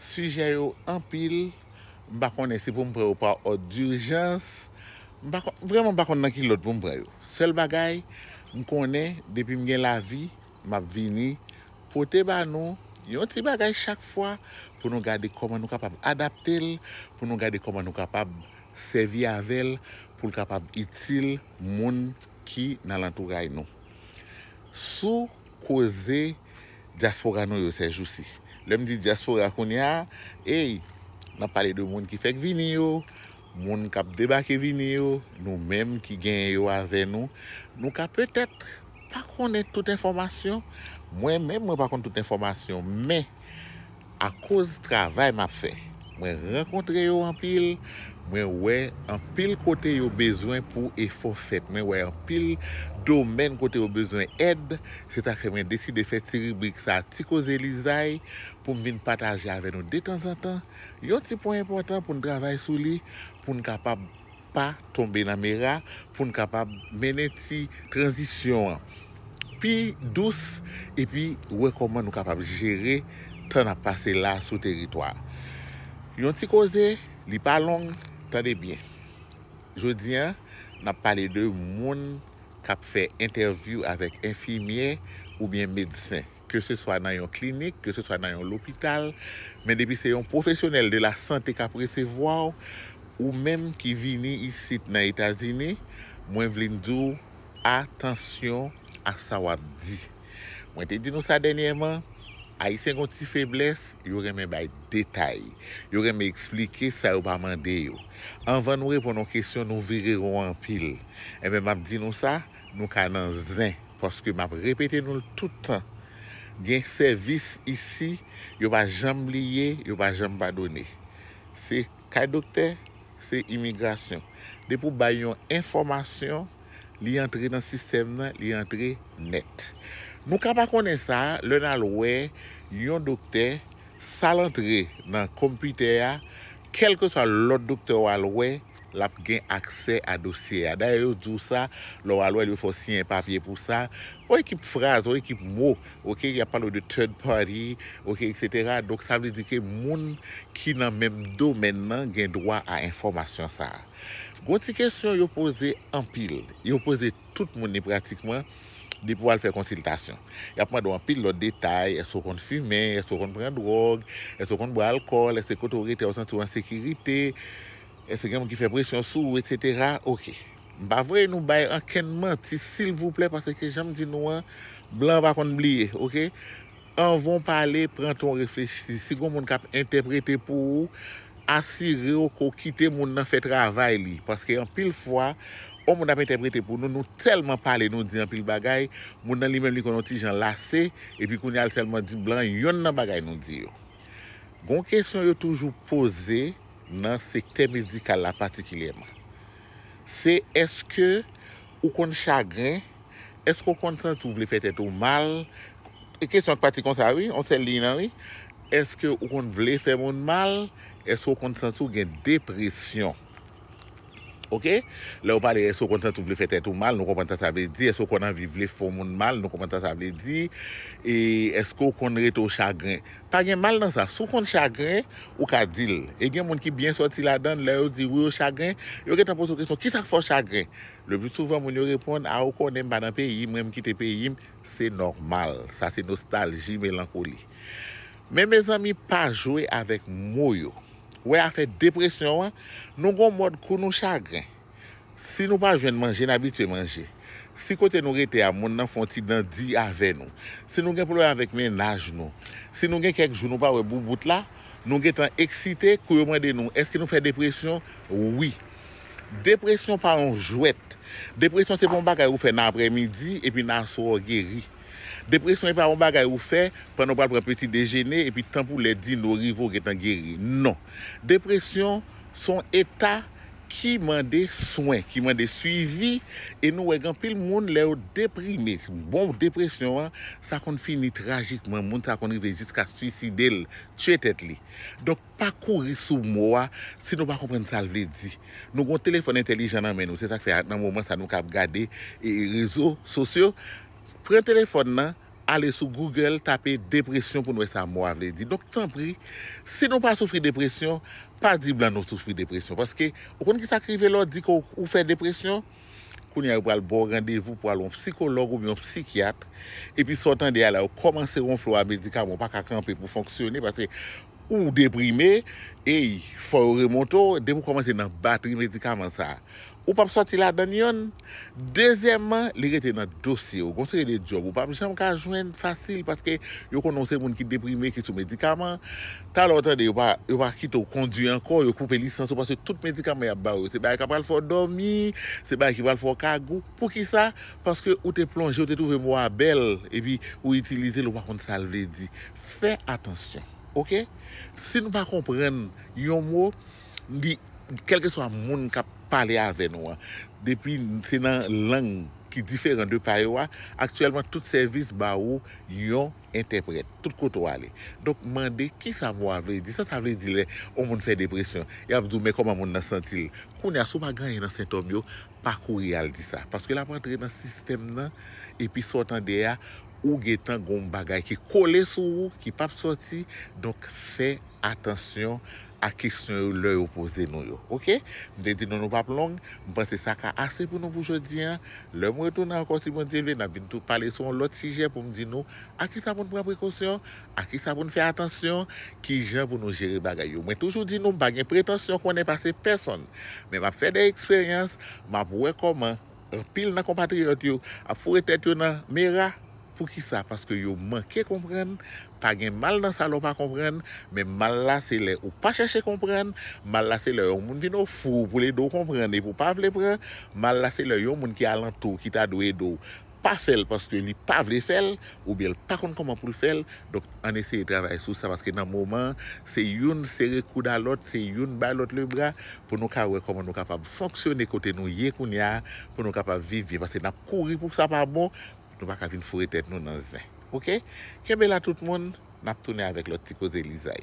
Sijè yo anpil, m pa konnen si pou m pran yo pa òd durjans, m pa konn, vrèman m pa konn nan ki lòd pou m pran yo. Sèl bagay, m konnen depi m gen lavi, m ap vini pote ba nou yon ti bagay chak fwa pou nou gade kòman nou kapab adapte l, pou nou gade kòman nou kapab sèvi avè l pou l kapab itil moun ki nan lantouray nou. Sou. koze dyaspora nou yo sèjousi. Lè m di dyaspora kounye a, ey, n ap pale de moun ki fèk vini yo, moun k ap debake vini yo, nou menm ki genyen yo avè nou. Nou ka petèt pa konnen tout enfòmasyon, mwen menm mwen pa konn tout enfòmasyon men, Akoz travay map fè mwen rankontre yo anpil mwen wè anpil kote yo bezwen pou efò fèt mwen wè anpil domèn kote yo bezwen èd se sak fè mwen deside fè ti ribrik sa ti koze lizay poum vin pataje avè nou detanzantan yon ti pwen enpòtan poun travay sou li poun kapab pa tonbe nan mera pou n kapab mennen ti tranzisyon an pi dous epi wè kòman nou kapab jere tan n ap pase la sou teritwa a. Yon ti koze, li pa long, tande byen. Jodi a, n ap pale de moun k ap fè entèvyou avèk enfimyè oubyen medsen. ke se swa nan yon klinik, ke se swa nan yon lopital, men depi se yon pwofesyonèl de la sante kap resevwa w, ou menm ki vini isit nan Etazini, mwen vlin di w atansyon a sa wap di. Mwen te di nou sa dènyèman, Ayisyen gon ti feblès, yo renmen bay detay, yo renmen eksplike sa yo pa mande yo. Anvan nou reponn yon kesyon, nou vire won anpil. Enben map di nou sa, Nou ka nan zen paske map repete nou l tout tan gen sèvis isi yo pa janm bliye yo pa janm padone se kay doktè se imigrasyon depi w bay yon enfòmasyon li antre nan sistèm nan li antre nèt nou ka pa konnen sa lè nal wè yon doktè sal antre nan konpitè a kèlkeswa lòt doktè wal wè l ap gen aksè a dosye a. Dayè yo di w sa, lè w al wè l yo fè w siyen papye pou sa. On ekip fraz, on ekip mo, ok, y ap pale w de third party, ok, eksetera. Donk sa vle di ke moun ki nan menm domèn nan gen dwa a enfòmasyon sa a. Gon ti kesyon yo poze anpil, yo poze. tout moun ni pratikman, depi w al fè konsiltasyon. Y ap mande w anpil lòt detay, èske w konn fimen, èske w konn pran dwòg, èske w konn bwè alkòl, èske kote w rete a ou santi w an sekirite, èske gen moun ki fè presyon sou ou, etsetera. Ok. M pa voye nou bay ankenn manti silvouplè paske jan m di nou an, blan pa konn bliye. Ok. Anvan w pale, pran tan w reflechi. Si gen yon moun k ap entèprete pou ou, asire w ke w kite moun nan fè travay li. Paske anpil fwa, yon moun ap entèprete pou nou, nou tèlman pale, nou di anpil bagay, moun nan li menm li konn yon ti jan lase, epi kounye a li sèlman di blan yonn nan bagay nou di yo. Gen yon kesyon yo toujou poze nan sektè medikal la patikilyèman. Se èske ou konn chagren? Eske w konn santi w vle fè tèt ou mal? Kesyon k pati konsa wi, yon sèl liy lan wi. Eske w konn vle fè moun mal? Eske w konn santi w gen depresyon? Ok, lè w pale eske w konn santi w vle fè tèt ou mal, nou konprann sa sa vle di. Eske w konn anvi vle fè yon moun mal? Nou konprann sa sa vle di. E eske w konn rete w chagren? Pa gen mal nan sa. Si w konn chagren, ou ka di l. E gen moun ki byen sòti ladan l, lè yo di wi yo chagren, yo gentan poze w kesyon, kisa k fè w chagren? Le plus souvent moun yo reponn a ou konnen m pa nan peyi mwen m kite peyi m se nòmal sa se nostalji melankoli men mezanmi pa jwe avèk mo yo ou wè afè depresyon an nou gon mòd kou nou chagren si nou pa jwenn manje n abitye manje si kote nou rete a moun nan fon ti dan di avè nou si nou gen pwoblèm avèk mennaj nou si nou gen kèk jou nou pa wè boubout la nou gentan eksite kou yo mande nou èske nou fè depresyon wi. Depresyon pa yon jwèt. Depresyon se pa yon bagay ou fè nan aprè midi epi nan aswè w geri. Depresyon epa yon bagay ou fè pandan ou pral pran peti dejene epi tan pou lè dine rive ou gentan geri. Non. Depresyon se yon eta ki mande swen, ki mande swivi e nou wè gen anpil moun lè yo deprime, bon depresyon an, sa konn fini trajikman, moun sa konn rive jiska swiside l, tye tèt li. Donk. Pa kouri sou mo a si nou pa konprann sa l vle di. Nou gen yon telefòn entèlijan nan men nou, se sa k fè nan moman sa a nou kab gade rezo sosyo. Pran telefòn nan, ale sou Google tape depresyon pou n wè sa mo a vle di. Donk tanpri, si nou pa soufri depresyon, pa di blan nou soufri depresyon. Paske, ou konn ki sa k rive lè w di ke ou fè depresyon? Kounye a yo pral ba w randevou pou w al wè yon psikològ oubyen yon psikyat, epi sa w tande a la yo kòmanse wonfle w a medikaman ou pa ka kanpe pou w fonksyone, paske. Ou deprime, eyy fò yo remonte w, depi w kòmanse nan batri medikaman sa ou pap sòti ladann yon, dezyèman li rete nan dosye w, gon seri de djòb ou pap janm ka jwenn fasil paske yo konnen w se moun ki deprime ki sou medikaman, talè w tande yo pa yo pa kite w kondwi ankò, yo koupe lisans ou paske tout medikaman yap ba w yo se bagay kap pral fè w dòmi, se bagay ki pral fè w kagou, poukisa paske ou te plonje ou te twouve mo a bèl epi ou itilize l ou pa konn sa l vle di. fè atansyon ok si nou pa konprann yon mo li kèlkeswa moun kap pale avè nou an depi se nan lang ki diferan de pa yo a aktyèlman tout sèvis ba ou yon entèprèt tout kote w ale donk mande kisa mo a vle di sa sa vle di lè yon moun fè depresyon yap di w men kòman moun nan santi l kounya si w pa gen anyen nan sentòm yo pa kouri al di sa paske lap antre nan sistèm nan epi sa w tande a ou gentan gon bagay ki kole sou ou ki pap sòti donk fè atansyon a kesyon yo lè yo poze nou yo ok m te di nou nou pap long m panse sa ka ase pou nou pou jodi an lè m retounen ankò si Bondye vle nap vin tou pale sou yon lòt sijè pou m di nou a kisa pou n pran prekosyon A kisa pou n fè atansyon? Ki jan pou nou jere bagay yo? Mwen toujou di nou m pa gen pretansyon konnen pase pèsonn, men m ap fè de eksperyans, m ap wè kòman anpil nan konpatriyòt yo ap foure tèt yo nan mera. Poukisa? Paske yo manke konprann. Pa gen mal nan sa lè w pa konprann, men mal la se lè ou pa chèche konprann. Mal la se lè yon moun vin ofri w pou l ede w konprann epi w pa vle pran. Mal la se lè yon moun ki alantou w ki ta dwe ede w pa fèl paske li pa vle fèl oubyen l pa konn kòman poul fèl donk ann eseye travay sou sa paske nan moman an se youn sere koud a lòt se youn bay lòt le bra pou nou ka wè kòman nou kapab fonksyone kote nou ye kounye a pou nou kapab viv byen paske nap kouri pou sa pa bon nou paka vin foure tèt nou nan zen ok kenbe la tout moun nap tounen avèk lòt ti koze lizay.